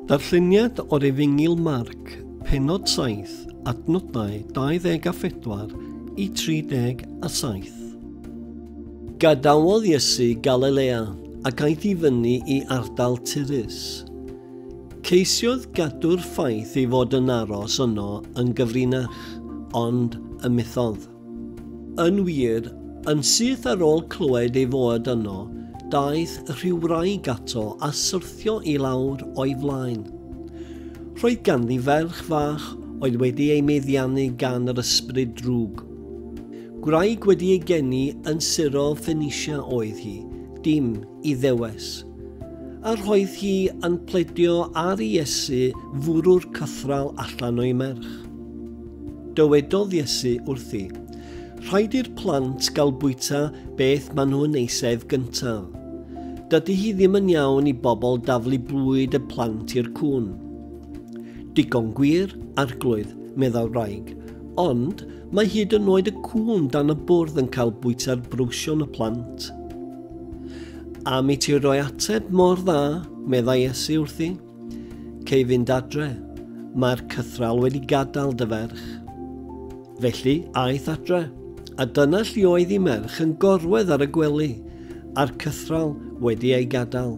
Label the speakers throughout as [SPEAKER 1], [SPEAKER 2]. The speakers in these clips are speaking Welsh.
[SPEAKER 1] Darlleniad o'r efengyl Marc, penod 7, adnodau 24 i 37. Gadawodd Iesu Galilea ac aeth i fyny i ardal Tyrus. Ceisiodd gadw'r ffaith ei fod yn aros yno yn gyfrinach, ond ymethodd. Yn wir, yn syth ar ôl clywed ei fod yno, daeth rhyw wraig ato a syrthio i lawr o'i flaen. Roedd ganddi ferch fach oedd wedi ei meddiannu gan yr ysbryd drwg. Gwraig wedi ei geni yn sirol Phoenicia oedd hi, dim i ddewes. A roedd hi yn pledio ar Iesu fwrw'r cythral allan o'i merch. Dywedodd Iesu wrthi, Rhaid i'r plant gael bwyta beth maen nhw'n eisedd gyntaf. Dydy hi ddim yn iawn i bobl daflu bwyd y plant i'r cŵn. Digon gwir, arglwydd, meddai'r wraig, ond Mae hyd yn oed y cŵn dan y bwrdd yn cael bwyta'r brwsion y plant. Am i ti roi ateb mor dda, meddai Iesu wrthi. Cei fynd adre, mae'r cythral wedi gadael dy ferch. Felly, aeth adre, a dyna lli oedd i merch yn gorwedd ar y gwely, a'r cythral wedi ei gadael.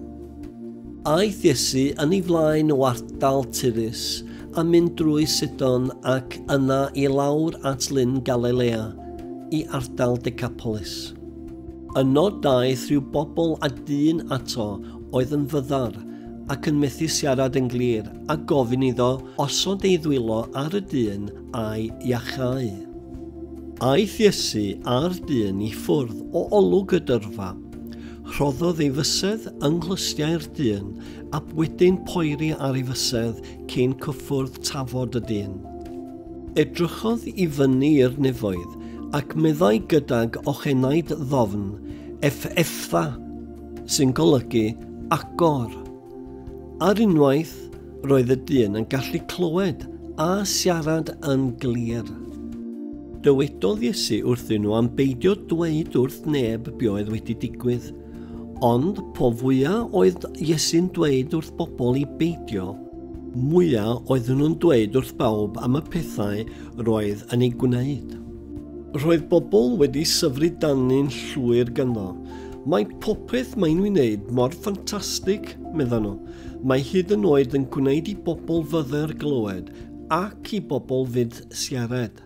[SPEAKER 1] Aeth Iesu yn ei flaen o ardal Tirus a mynd drwy Sidon ac yna i lawr at Lyn Galilea, i ardal Decapolis. Yno daeth rhyw bobl a dyn ato oedd yn fyddar ac yn methu siarad yn glir, a gofyn iddo osod ei ddwylo ar y dyn a'i iachau. Aeth Iesu a'r dyn i ffwrdd o olwg y dyrfa. Rhoddodd ei fysedd yng nghlustiau'r dyn, ab wedyn poeri ar ei fysedd cyn cyffwrdd tafod y dyn. Edrychodd i fyny i'r nefoedd, ac meddai gydag ochenaid ddofn, Eff Effdda, sy'n golygu agor. Ar unwaith, roedd y dyn yn gallu clywed a siarad yn glir. Dywedodd Iesu wrthyn nhw am beidio dweud wrth neb be oedd wedi digwydd. Ond po fwya oedd Iesu'n dweud wrth bobl i beidio, mwya oedden nhw'n dweud wrth bawb am y pethau roedd yn ei gwneud. Roedd bobl wedi syfru dani'n llwyr ganddo. Mae popeth mae'n ei wneud mor ffantastig, meddan nhw. Mae hyd yn oed yn gwneud i bobl fyddar glywed ac i bobl fyd siarad.